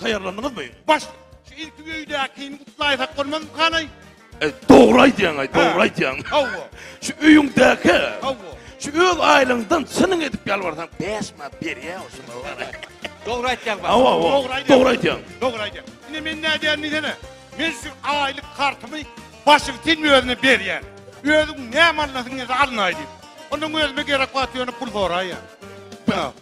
Taýýarlandyňyzmy? Baş. Şu ilki öýdäkini gutlaýsak bolmazmy hany? E, dogry aýdýaň, aý, dogry aýdýaň. Hawa. Şu öýüňdäki. Hawa. Şu öz aýlygyňdan çynyň edip ýalbarsaň, bäş manat berýär o şuny bar. Dogry aýtýaň baş. Hawa, hawa. Dogry aýdýaň. Dogry aýdýaň. Dogry aýdýaň. Indi men nädýän diýsene. Men şu aýlyk kartymy başyň sen özüne berýän. Özüň näme alnasyň ýa-da alnaý diýip. Ondan özüme gerek wagt ýöne pul soraýýan.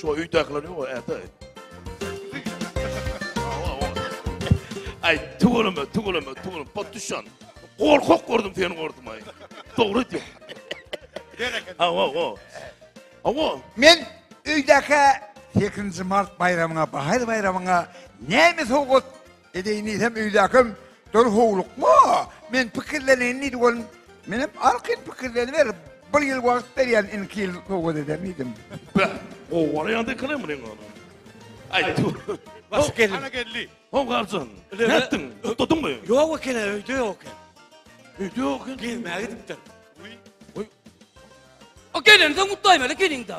Şu öýdäkiler ýok äde. Ay tüweleme, tüweleme, tüweleme. Patuşan. Gorkak gördüm seni gördüm ay. Dogry diyor. Bereket. Awa, awa. Awa. Men öýdäkä 8 mart baýramyna, bahaýyr baýramyna näme sowgat Edeýinizem öýdäkem döl howlukma, men pikirleneyini diýdi ol. Menem arkaýyn pikirleniber, bir ýyl wagt berýän indiki ýyl sowgat eder diýdim. Be, gowy bolýa diýkile muny ýöne. Aý tu. Hoş geldiň. Hana geldi. Ho garjyn. Nätdiň? Utdadyňmy? Ýok eken, öýde ýok eken. Öýde ýok eken. Gezmäge gidipdir. Oý. Oý. O gelensoň utdaýmaly gelin-de.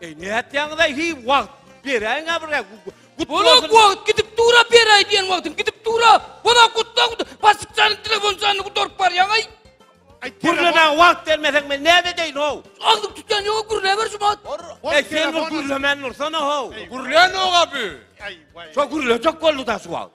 Ey nätýäňiz aý hi wagt beräň abra. Bola wagt gidip dura beräý diýen wagtym gidip dura. Bola gutla gutla basyp jany telefon jany gudaryp barýaň aý. Gürlemä wagt bermeseň men näme edeýin ho. Agzyk tutýan ýok gürle ber şu wagt. Ey sen gürlemän dursana ho. Gürlän oga bu. Şo gürlejek boldy da şu wagt.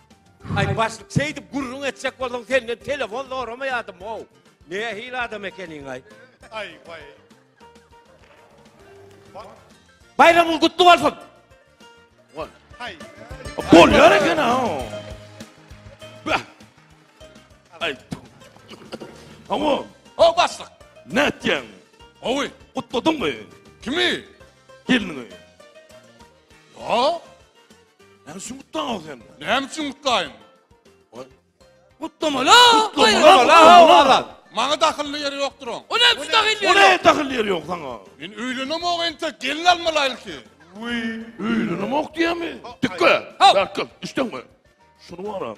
Aý başlyk şeýdip gürrüň etjek bolsaň senden telefon zoramaýadym how. Nähili adam ekeniňaý. Aý waý. Baýramyň gutly bolsun. Haý. Bolýar eken ha. Bah. Aý. Hawa. O başlyk. Ne etýäň? Hawy. Gutladyňmy? Kimi? Gelini. Ha? Näme üçin gutlaňok sen? Näme üçin gutlaýyn? Gutlamaly. Gutlamaly. Maňa dahylly ýeri ýokdur oň. O näme üçin dahylly ýeri? O näme dahylly ýeri ýok saňa? Men öýlenem ok ente, gelin almaly ilki. Uý, öýlenem ok diýemi? Dikge. Berkil, düşdüňmi? Şunu waran.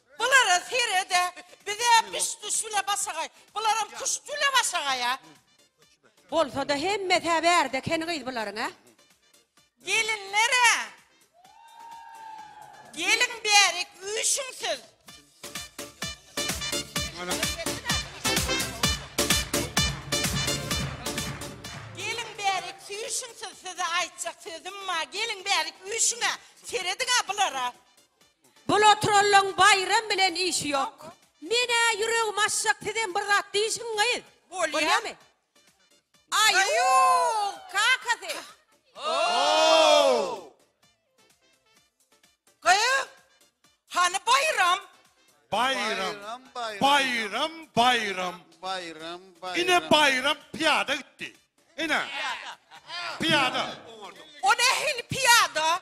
Bulara serede bize biş düş bile başagaý bularam küşt bile başagaýa. Bolsada hemmesä bärde ekeni gyz bularyň a. Gelinlere Geliň bärik üýşüň siz. Geliň bärik süýşüň siz size aýtjak sözüm bar geliň bärik üýşüňä serediňä bulara. Bul oturanlaň Baýram bilen işi ýok. Menä ýüregim açjak sizem bir zat diýişiň gyz. Bolýamy? Aýuuw kakasy. Oow. Gyz hany Baýram? Baýram Baýram Baýram. Baýram Baýram. Ine Baýram pyýada gitdi. Ine. Pyýada. O nähili pyýada?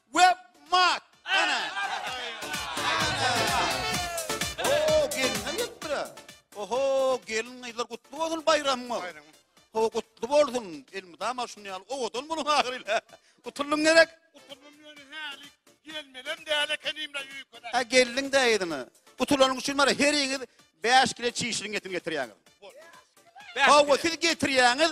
Web mat. Ana. Oho gelinler gelipdir ha. Oho gelin gyzlar gutly bolsun baýramyňyz. Ho gutly bolsun. Elmydama şuny ýaly owadan boluň ahyryla. Gutuldyň gerek. Gutuldyň ýöne häli gelmelem däl ekenim la ýökele. Ha geldiň dä ýyna. Gutulanyň üçin bar heriňiz 5 kile çişiň getirýäňiz. Hawa siz getirýäňiz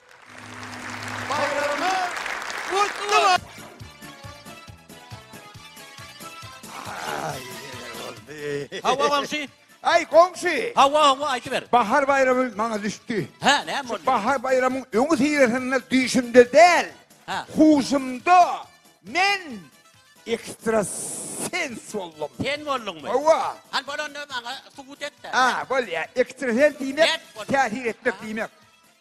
Hawa goňşy. Ay goňşy. Hawa hawa aýdyber. Bahar baýramy maňa düşdi. Hä, näme boldy? Bahar baýramyň öňi syýasynda düýşümde däl. Hä. Huşumda men ekstrasens boldum. Sen bolduňmy? Hawa. Hany bolanda maňa subut et-de. Ha, bolýa. Ekstrasens diýmek, täsir etmek diýmek.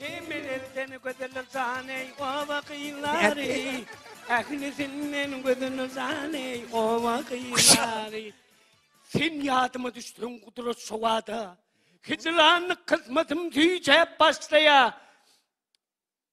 Emmeler seni gözeller jan ey oba gyzlary Ähli senden gözeller jan ey oba gyzlary Sen ýadyma düşdüň gudrat şowada Hicranlyk kysmatym tüýjäp başlaýa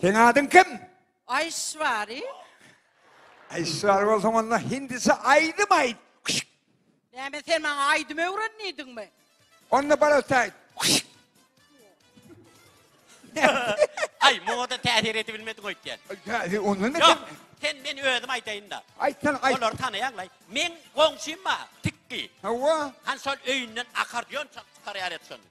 Seň adyň kim? Aýşwari. Aýşwari bolsaň onda hindisçe aýdym aýt. Küşk. Näme sen maňa aýdym öwrendiňmi? Onda barata aýt. Küşk. Ay muňa da täsir edip bilmedin öýtýän. Täsir onda ne? Yok sen men özüm aýdaýyn da. Aýtsan aýt. Olar tanaýan lay. Men goňşym bar. Tikki. Hawa. Han şol öýünden akar diýen çak çykar ýaret şonda.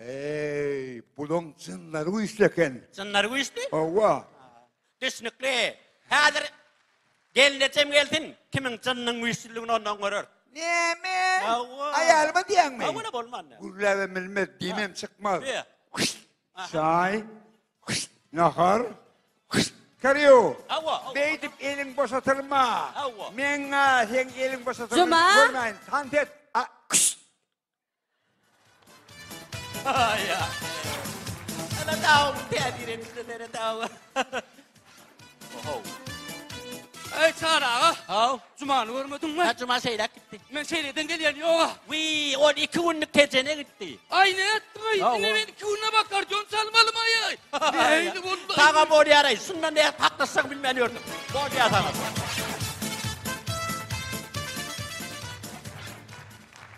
Eý, bulaň jynlary güýçli eken. Jynlary güýçli? Hawa. Düşnükli. Häzir gelnejem gelsin, kimiň jynynyň güýçlüligini ondan görer. Näme? Hawa. Aýalyma diýýäňmi? Hawa, bolman näme? Gürläbem bilmez, diýmem çykmaz. Be. Aha. Çaý, nahar, karyo. Hawa, hawa. Beýdip eliň boşatylma. Hawa. Meň-ä seň eliň boşatylma. Juma. Görmäýin, tant et. A, Eý Çary aga, Haw, Jumany görmediňmi? ha juma şeýläk gitdi. Men şeýleden gelýän ýoga. Wiý, ol iki günlük tejene gitdi. Aý ne etdiň-aý? Haw, Ine o- men iki günde bakar jon çalmalymaý aý. Neýli boldy? Saga bolýar aý, şundan bäri haklaşjagyny bilmän ýördüm. Bolýar saga.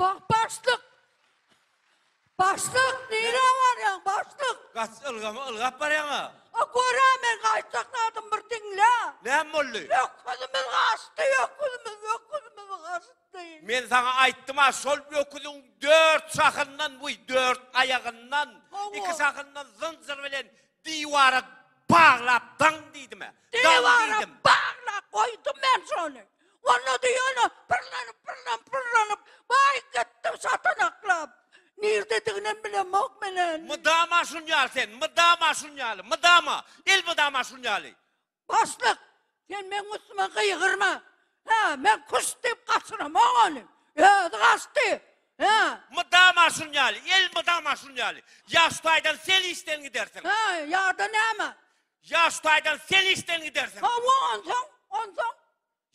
Bak başlyk! Başlyk, nirä barýaň, başlyk? Gaç, ylgama ylgap barýaň-a! A gör-ä, men gaýtjak zadym bir diňle! Näme boldy? Öküzimiz gaçdy, öküzimiz, öküzimiz gaçdy! Men saňa aýtdym-a, şol öküziň dört şahyndan, buý, dört aýagyndan, Hawa. iki şahyndan zynjyr bilen diwara baglap daň diýdim-ä! Daň Diwara diýdim! baglap goýdum men şony! Walla diýýän-ä, pyrlanyp, pyrlanyp, pyrlanyp, baý gitdim şatanaklap. Nirdediginem bilemok menen. Mydama şun ýaly sen, mydama şun ýaly, mydama, elmydama şun ýaly. Başlyk, sen meň üstüme gygyrma. Hä, men küşt diýip gaçyramok ony. Özi gaçdy. Hä. Mydama şun ýaly, elmydama şun ýaly. Ýa şu taýdan sen işden gidersiň. Hä, ýa-da näme? Ýa şu taýdan sen işden gidersiň. Hawa, onsoň, onsoň?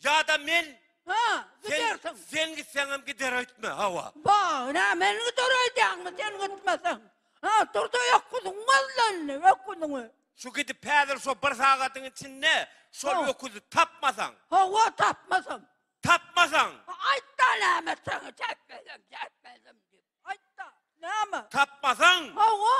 Ýa-da men Ha, sen, gidersiň. sen gitseňem gider öýtme, hawa. Ba, nä men gider öýdýäňmi sen gitmeseň? Ha, dur-da öküziň gözle indi, öküziňi. Şu gidip häzir şo bir sagadyň içinde şol Ha. öküzi tapmasaň, Hawa, tapmasam. tapmasaň, Ha, Aýt-da näme etseňi, çäkmezem, çäkmezem diýip. Aýt-da, näme? tapmasaň, Hawa,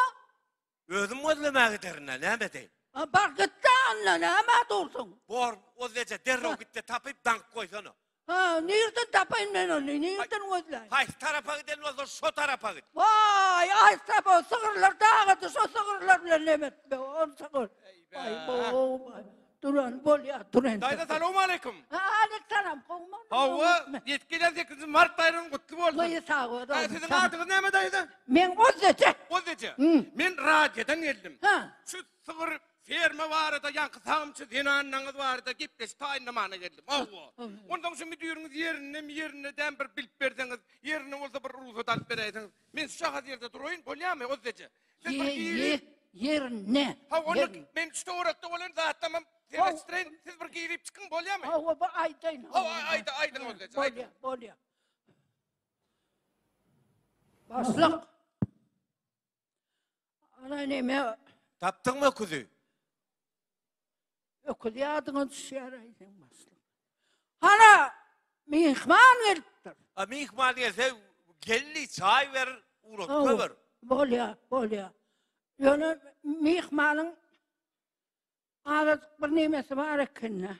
Özüm gözlemäge giderin-ä, näme edeýin? A, bar git-de, onda nämä dursuň? Bor, ozleje, derrew git-de tapyp, daňyp goýsana. Ha, nirden tapaýyn men ony, nirden gözläýin? Haýsy tarapa giden bolsa, şo tarapa git. Waý, aýtsa bo, sygyrlar dagady, şo sygyrlar bilen nem et, be, onça gör. Aý, bo, Duran bolýar, duran. Daýza salowmaleýkum. Alek salam, gowmy? Hawa, ýetip gelýän 8-nji mart baýramy gutly bolsun. Goýy sag bol. Daýza siziň adyňyz näme daýza? Men Ozzeje. Ozzeje. Men radiodan geldim. Ha. Şu sygyr ferma barada ýaňky sagymçy zenanlaryňyz barada gepleşik taýynlamana geldim. Hawa. Ondan şu müdiriňiz ýerindemi, ýerinde dämi bir bilip berseňiz, ýerinde bolsa bir rugsat alyp beräýseňiz. Men şu şahat ýerde duraýyn, bolýarmy Ozzeje? Ye, ye, yerine. Ha onu Yer- men üçte orakda bolan zatlamam Sebastian siz bir girip çıkın bolya mı? Hawa bu aýdaýyn. Hawa, hawa, aýda- aýdyň bolýa, aýdyň. Bolýa, bolýa. Başlyk. Ana neme Tapdyň mı öküzi? Öküz ýadyňa düşýär aýdyň başly. Hana mihman gelipdir. A mihman gelse geldi çay ver, uğratka ver. Bolya, bolya. Ýöne mihmanyň azajyk bir nemesi bar ekende.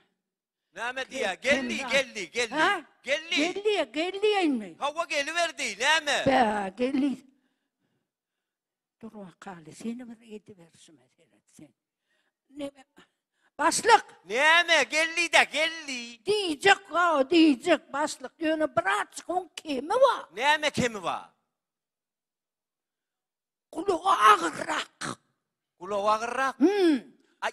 Näme diýýär? Geldi, geldi, geldi. Ha? Geldi. Geldi, geldi indi. Hawa geliberdi, näme? Bä, geldi. Dur wakaly, seni bir ediberişime seret sen. Neme? Başlyk! Näme, geldi-de, geldi. Diýjek, ha, diýjek, başlyk. Ýöne bir açyk oň kemi bar. Näme kemi bar? Gulagy agyrrak. Gulagy agyrrak? Hmm. Ay,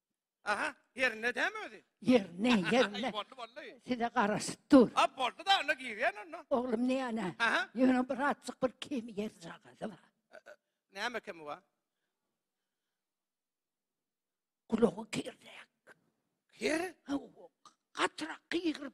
Aha, ýerinde dämi özi? Ýerinde, ýerinde. Boldy, boldy. Size garaşyp dur. A, boldy da, onda girýän onda. Oglum näne? Aha. Ýöne bir azjyk bir kemi ýerjagazy bar. Näme kemi bar? Gulagy kirräk. Kir? Haw, gatyrak gygyryp,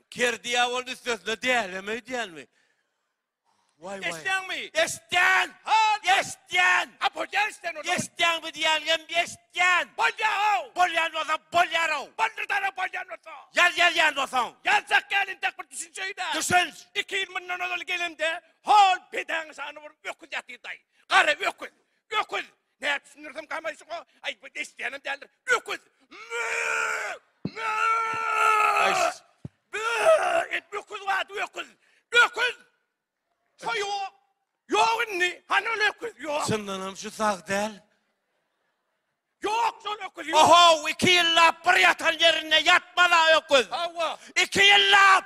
Ker diýabol üstesine dälem öýdýänmi? Waý waý. Eşitýäňmi? Eşitýän! Hal! Eşitýän! A bolýar eşitýän onda. Eşitýän bu diýäligem eşitýän. Bolýar-ow! Bolýan bolsa bolýar-ow. Boldy dara bolýan bolsa. Ýaz ýazýan bolsaň. Ýazjak gelin dek bir düşünç öýdä. Düşünç! Iki ýyl mundan ozal gelemde hol bedeň şany bir öküz ýatyrdaý. Gara öküz. Öküz. Nä düşündirsem gamaýşyk o. Aý bu eşidýänem däldir. Öküz. Mü! Mü! Aýs. Bü! Et öküz wagt öküz. Öküz! Şo ýok. Ýok indi. Hany ol öküz? Ýok. Çyndanam şu sag däl. Ýok şol öküz. Ýok. Ohow, iki ýyllap bir ýatan ýerinde ýatmaz-a öküz. Hawa. Iki ýyllap!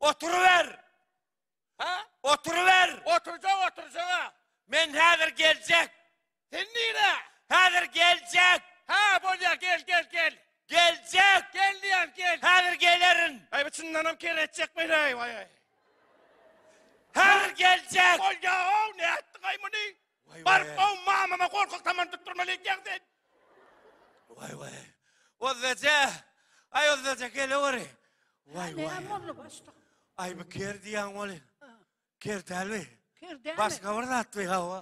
Oturyber. Ha? Oturyber. Oturjak, oturjaga. Men häzir geljek. Sen nire? Häzir geljek. Ha, bolýar, gel, gel, gel. Geljek. Gel diýen, gel. Häzir gelerin. Aý, bu çyndan hem kere etjek men, aý, aý, aý. Häzir geljek. Bolýar, ow, nätdiň aý muny? Bar gow mamama gorkak tamany tutdurmaly ekýäň sen. Waý waý. Ozzaja. Aý ozzaja geleweri. Waý waý. Ne boldy başda? Aý bu ker diýen ol. Ker dälmi? Ker dälmi? Başga bir zat diýä hawa.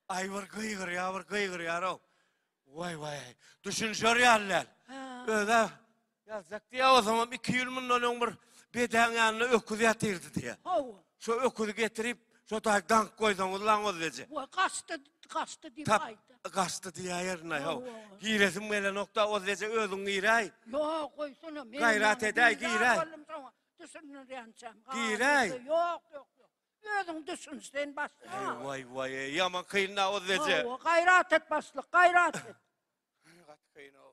Aý bir gygyrýar, bir gygyrýar-ow. Waý waý. Düşünşer ýaly däl. Özä Ýazjak diýýä o zaman iki ýyl mundan öň bir bedäň ýanynda öküz ýatyrdy diýýä. Hawa. Şo öküzi getirip, şo daýy dank goýsaňyz laňoz eje. Wa gaçdy, gaçdy diýip Tap, aýtdy. gaçdy diýäýerin aý haw. Hawa. Giresim gelenokda oz eje özüň giräý. Ýok, goýsana, men Gaýrat ýaňy edäý, bizar giräý. boldum şoňa, Düşündirýänçäm. Aa, Giräý. ýeke, Ýok, ýok, ýok. Özüň düşün, sen başlyk. Eý aa. waý waý eý ýaman kyn da oz eje. Hawa, gaýrat et başlyk, gaýrat et. Gaty kyn-ow.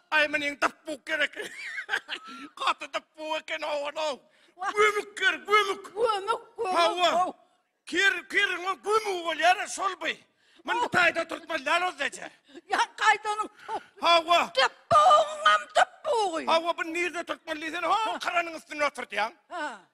Aý meniň dapbuk gerek. Gaty dapbuk eken owadow. Gömük ger, gömük. Gömük, gömük. Hawa. Kir, kiriň o gömügi bolýar, şol bu. Men bu taýda turtman lal özdeje. Ýa gaýdanyň. Hawa. Dapbugyňam dapbugy. Hawa, bu nirde turtman diýsene, ha, karanyň üstünde oturdýaň. Ha.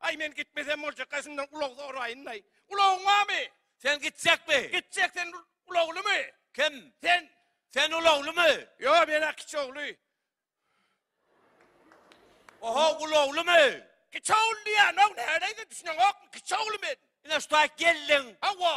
Aý men gitmesem boljakka şundan ulag soraýynlaý. Ulagyň barmy? Sen gitjekmi? Gitjek sen ulaglymy? Kim? Sen. Sen ulaglymy? Ýok men-ä kiçi ogly. Oho ulaglymy? Kiçi ogly diýýän-ow näleýse düşüneňokmy kiçi ogly men. Ine şu taýt geldiň. Hawa.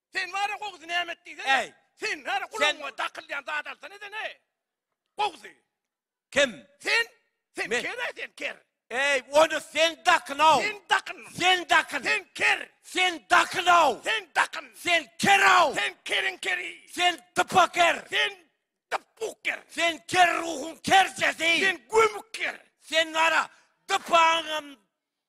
Sen wara gowzy näme et diýsene. Äý. Sen wara gulagyňa dakylýan zat alsana sen-ä. Gowzy. Kim? Sen. Sen ker-ä sen ker. Äý, ony sen dakyn-ow. Sen dakyn. Sen dakyn. Sen ker. Sen dakyn-ow. Sen dakyn. Sen ker-ow. Sen keriň keri. Sen dypa ker. Sen dypuk ker. Sen ker ruhuň kerjesi. Sen gömük ker. Sen wara dypaňam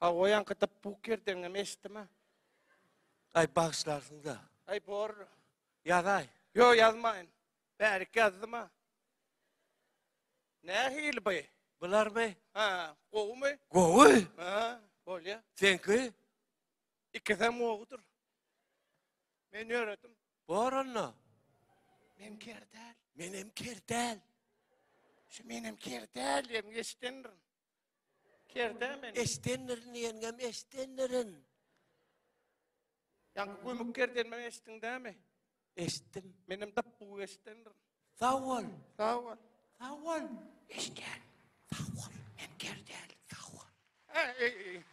Hawa o ýaňky dyp buk ýerdeňem eşitdim a. Aý bagyşlarsyňda. Aý bor. Ýazaý. Ýok ýazmaýyn. Bärik ýazdym a. Nähili by? Bular by? Ha, gowumy? Gowy. Ha, bolýa. Seňki? Ikisem gowudyr. Men ýöredim. Bor onda. Men kerdäl. Menem kerdäl. Şu menem kerdäl diýem eşidendirin. Kertä meni. Eşdendirin ýeňňem, eşdendirin. Ýaňky gömük kerdenmem eşitdiň dämi? Eşitdim. Menem dap gowy eşdendirin. Sag bol. Sag bol. Sag bol. Eşden. Sag bol. Hem kerdäl. Sag bol. Ey, ey, ey.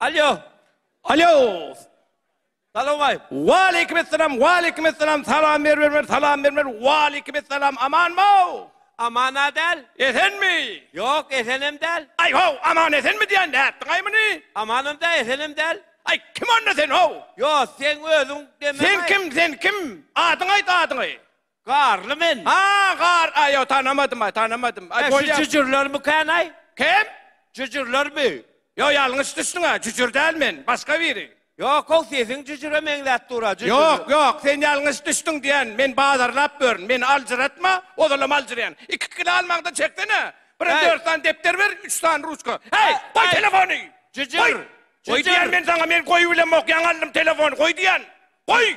Alýo. Alýo. Salaway. Waleýkim esselam, waleýkim esselam. Salam ber bermer, salam bermer. Waleýkim esselam. Amanmyw? Amana däl. Esenmi? Ýok, esenem däl. Aý ho, aman esenmi diýen nätdiňaý muny? Amanam däl, esenem däl. Aý kim onda sen ho? Ýok, sen özüň demäň. Sen kim, sen kim? Adyňy aýt, adyňy. Garly men. Ha, gar, a, ýok, tanamadym, aý, tanamadym. Aý, bolýar. Şu jüjürlermi kän, aý? Kim? Jüjürlermi? Ýok, ýalňyş düşdüň, a, jüjür däl men, başga biri. Ýok-ow, sesiň jüjüre meňzäp dur, a, jüjür. Ýok, ýok, sen ýalňyş düşdüň diýýän, men bazarlap ýörün, meni aljyratma, ozalam aljyraýan. Iki kilo almaňda çeksene, birem dört sany depder ber, üç sany ruçka. Heý, goý telefony! Jüjür! Goý! Goý diýýän men saňa, men goýup bilemok, ýaňy aldym telefony, goý diýýän! Goý!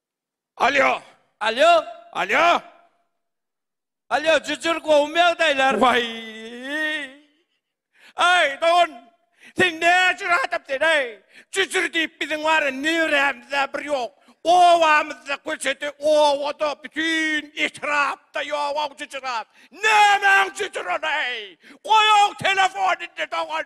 Alýo. Alýo. Alýo. Alýo, jüjür gowumy ýagdaýlar? Waý! Aý, dogan, sen näjür adam sen, aý? Jüjür diýip biziň bara nirämizde bir ýok. Obamyzda, köçede, obada, bütin etrapda ýog-ow jüjür at. Nämäň jüjür ol, aý? Goý-ow telefon indi, dogan!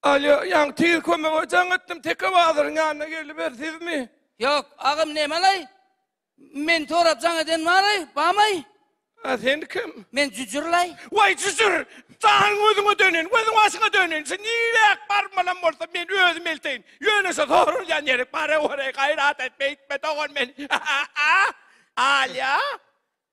Alýo, ýaňy tiz kömege jaň etdim, teke bazaryň ýanyna geliber, sizmi? Ýok, agam nemalaý? Meni sorap jaň eden baraý, bamaý? A sen kim? Men jüjürlaý. Waý jüjür, janyň özüňe dönin, gözüň başyňa dönin, şu niräk barmalam bolsa men özüm elteýin, ýöne şu sorulýan ýerik, baraweraý, gaýrat et, beýtme dogan meni, a-a-a! Alýo!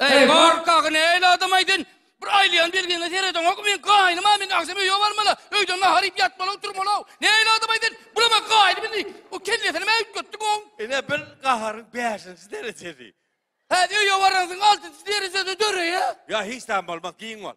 Eý, gorkak, nähili adam-aý sen? Bir aýlaýan belgiňe seredeňokmy? Meň gaýnymam indi, agşam öýe barmaly. Öýden nahar iýip ýatmaly-ow, turmaly-ow. Nähili adam-aý sen? Bulam-a gaýnym indi. O kellesinimä üýtgetdiň oň. Ine, bil, gaharyň bäşinji derejesi. Häzir öýe baransyň, altynjy derejede döreýär. Ýa, hiç zat bolmaz, giň bol.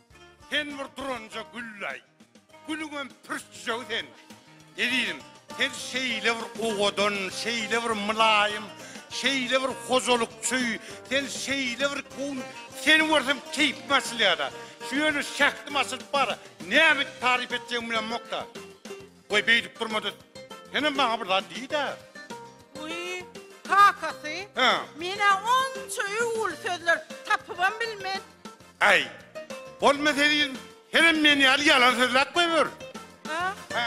Sen bir duranja güllaý. Gülüňem pürçjegi sen. Ezizim, sen şeýle bir owadan, şeýle bir mylaýym, şeýle bir hojalykçy, sen şeýle bir kowun, seni görsem keýpim açylýar-da. Şu ýöne şähdim açylyp bar. Näme taryp etjegim bilemok-da. Goý beýdip durma-da, senem maňa bir zat diý-dä. Wiý, kakasy, Hä. men-ä onça öwgüli sözler tapybam bilmen. Äý, bolmasa ezizim, senem men ýaly ýalan sözläp goýber. A? Hä.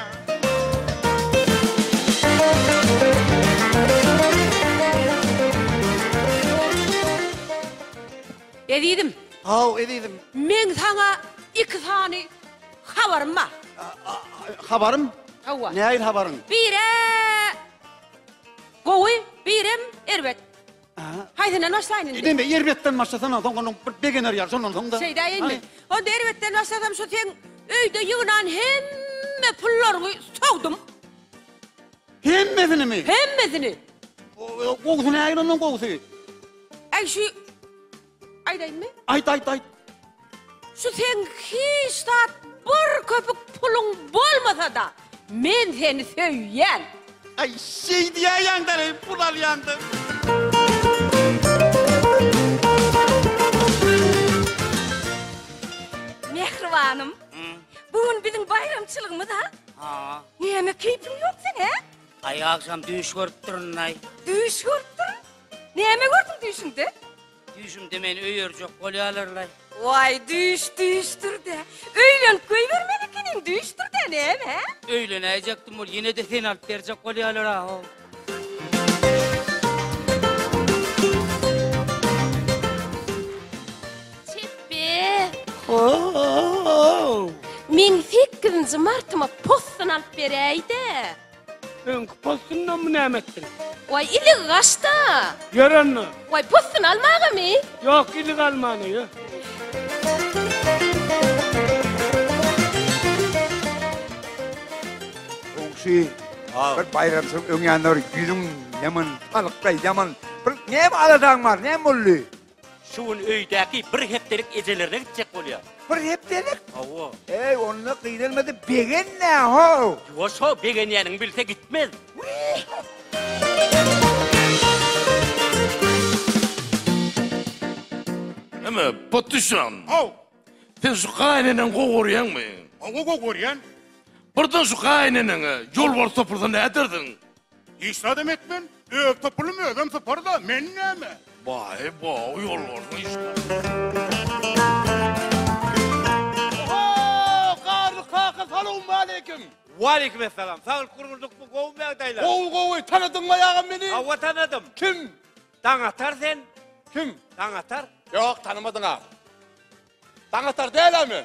Ezizim. Haw, ezizim. Men saňa iki sany. Habarym bar. Habarym? Hawa. Näil habaryň? Bire gowy, birem erbet. Haýsyndan başlaýyn indi? Indi erbetden başlasan, ondan soň onuň bir begener ýaly, şondan soň da. Şeýdä indi. Onda erbetden başlasam, şu seň öýde ýygnan hemme pullaryňy sogdum. Hemmesinimi? Hemmesini. Gowusy näil ondan gowusy? Äý şu Aýdaýynmy? Aýt, aýt, aýt. Şu seň hiç zat bir köpük puluň bolmasa-da, men seni söýýän. Aý, şeý diýäýeňdä-le, pul alýaňda. Mähribanym, bu gün biziň baýramçylygymyz-a? Ha. Näme keýpiň ýok seň, hä? Aý, agşam düýş görüpdirin-aý. Düýş görüpdirin? Näme gördüň düýşüňde? Düýşümde meni öýerjek bolýalarlaý. Waý, düýş düýşdür-dä. Öýlenip goýbermeli ekeniň, düýşdür-dä, näme, hä? Öýlenäýjekdim ol, ýene-de seni alyp berjek bolýalar-aw. Meň sekkizinji martyma possun alyp beräý-dä. Öňki postunda mı näme ettin? Vay ilik gaşta. Ýör onda. Vay postun almaga mi? Yok ilik almana ýör. Goňşy, Aw. bir baýramçylyk öňýanlar ýüzüň ýaman, halykda ýaman. Bir näme aladaň bar, näme boldy? Şu gün öýdäki bir hepdelik ejelerine gitjek bolýar. Bir hepdelik? Hawa. Eý, onda gynalmady, begenme ho. Ýuwaş ho, begenýäniňi bilse gitmez. Eme, patyşam. Haw. Sen şu gaýyneneňi gowy görýäňmi? Hawa, gowy görýän. Birden şu gaýyneneňe ýolbars topulsa nädersiň? Hiç zadam etmen, öz topulym özüm syparda, men näme? Baý baý ýolbarsy işler. Salowmaleýkim. Waleýkim essalam. Saglyk gurguldykmy? Gowumy ýagdaýlar? Gowy gowy. Tanadyňmy agam meni? Hawa tanadym. Kim? Daňatar sen. Kim? Daňatar. Ýok, tanamadyň agam. Daň atar dälä men?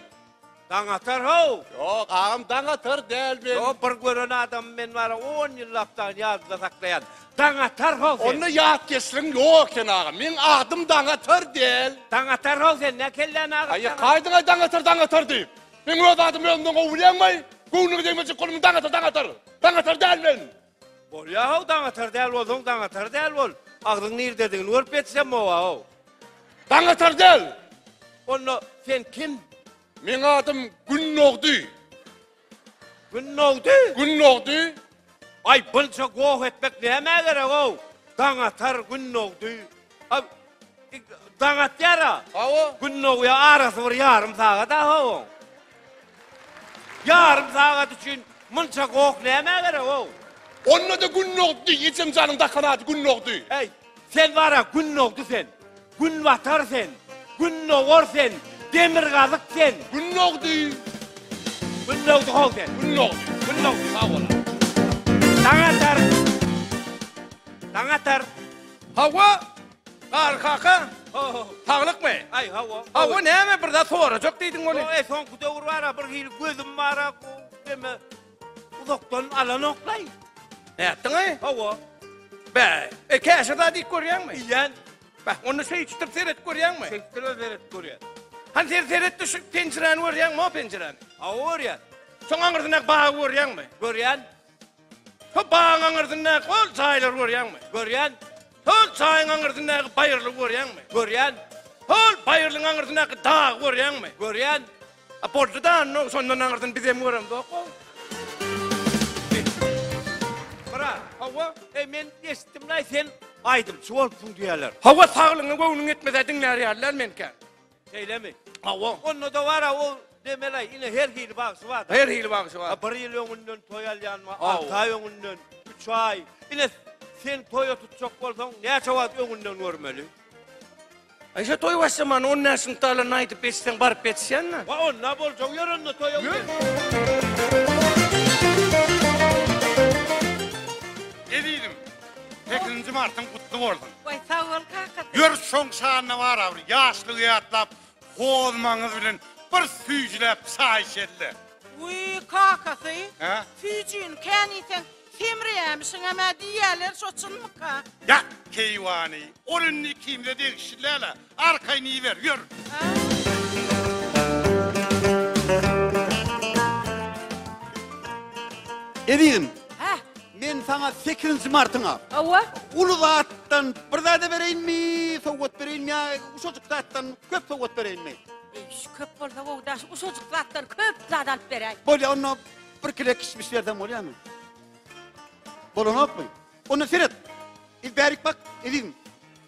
Daň atar how? Ýok, agam daň atar däl men. Ýok, bir gören adamy men bara on ýyllapdan ýadyda saklaýan. Daň atar how sen? Onda ýatkeşligiň ýok eken agam. Meň adym daň atar däl. Daň atar how sen? Nä kelläni agyryp Aý, ýatyr? kaýdyň-aý daň atar, daň atar diýip. Meň öz adymy özümden gowy bilýäňmi-aý? Göwnüňe degmejek bolmyň daň atar, daň atar. Daň atar däl men. Bolýa how daň atar däl bolsaň daň atar däl bol. Agzyň nirdedigini görüp ýetişen bowa how. Daň atar däl. Onda sen kim? Meň adym Gün dogdy. Gün dogdy? Gün dogdy. Aý bunça goh etmek nämä gerek how. Daň atar, gün dogdy. Ab, ik, Daň atýar-a. Hawa. Gün dogýar, arasy bir ýarym sagat-a hawa. Ýarym sagat üçin munça goh nämä gerek hawa? Onda-da gün dogdy, ejem janyň dakan ady gün dogdy. Äý, sen bar-a gün dogdy sen, gün batar sen, gün dogar sen, demirgazyk sen. Gün dogdy. Gün dogdy hawa sen. Gün dogdy. Gün dogdy. Sag bol-a. Daň atar. Daň atar. Hawa, Garry kaka, Ho-ho. saglykmy? Aý, hawa. Hawa, näme bir zat sorajak diýdiň ony? Ýok, e, soňky döwür bar-a, bir hili gözüm bar-a, bu deme, uzakdan alanok-laý. Nätdiň-ä? Hawa. Bäh, e, käşir zat iýip görýäňmi? Iýýän. Bäh, onda söýüşdirip seredip görýäňmi? Söýüşdirip seredip görýän. Hany sen seretdi şu penjiräni görýäňmi, o penjiräni? Hawa, görýän. Şoň aňyrsyna bagy görýäňmi? Görýän. Şu bagyň aňyrsyndaky ol çaýlary görýäňmi? Görýän. Şol çaýyň aňyrsyndaky baýyrlygy görýäňmi? Görýän. Şol baýyrlygyň aňyrsyndaky dagy görýäňmi? Görýän. A boldy-da, onda şondan aňyrsyny bizem göremzok-ow. Bra, hawa, eý, men eşitdim-laý, sen aýdymçy bolupsyň diýýärler. Hawa, saglygyňa göwnüň ýetmese diňlär ýalylar menkä. Şeýlemi? Hawa. Onda dowara o demeli ine her hili bagşy bar. Her hili bagşy bar. Bir ýyl öňünden toý alýan bar, alty aý öňünden, üç aý. Ine sen toýa tutjak bolsaň näçe wagt öňünden görmeli? Aýşe toý başlaman on näçe synpda alanyny aýdyp geçseň baryp ýetişýänmi? Wa onda boljak ýör onda toýa. Ýör. Sekizinji martyň gutly bolsun. Goý sag bol kaka. Ýör şoň şanyna bara bir ýaşlygy ýatlap hozmaňyz bilen bir süýjüläp çaý içeli-le. Wiý kakasy Hä? süýjini kän iýseň semreýämişiňem-ä diýýäler şo çynmyka? Ýa keýwany ol indi ikimize degişli däl-ä. Arkaýyn iber, ýör! Ezizim! Heh! Men saňa sekizinji martyňa. Hawa? Uly zatdan bir zad-a bereýinmi, sowgat bereýinmi ýa uşajyk zatdan köp sowgat bereýinmi? Eý, köp bolsa gowy daş, uşajyk zatdan köp zad alyp beräý. Bolýa, onda bir kile kişmiş berseň bolýamy? Bolanokmy? Onda seret! Bärik bak, ezizim!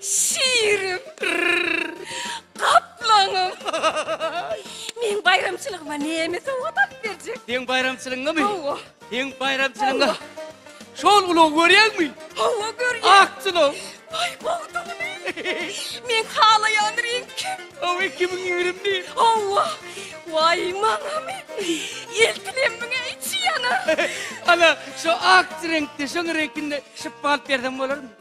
Şirim. Gaplaňym. Meň baýramçylygyma näme sowgat alyp berjek? Seň baýramçylygyňamy? Hawa. Seň baýramçylygyňa. Şol ulag görýäňmi? Hawa görýän. Akçylyk. Aý gowdugyny. Men halaýan reňki. Hawa 2020-ni. Hawa. Waý maňamy. Eltilem muňa içi ýanar. Ana, şu ak reňkde, şoň reňkinde şypba alyp berseň bolarmy?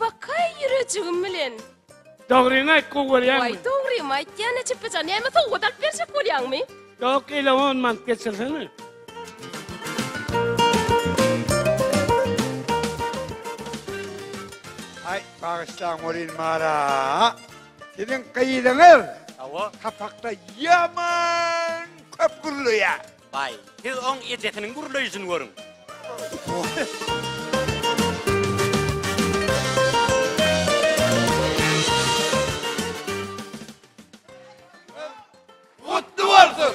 Bakaý ýürejigim bilen. Dogryňy aýt gowy bolýarmy? Waý dogrymy aýtýana çypyjan näme sowgat alyp berjek bolýaňmy? Ýok ele on mant geçirsene. Aý bagyşlaň welin mara siziň gyzyňyz Hawa. sapakda ýaman köp gürleýär. Baý, siz oň ejesiniň gürleýşini görüň. Gutly bolsun!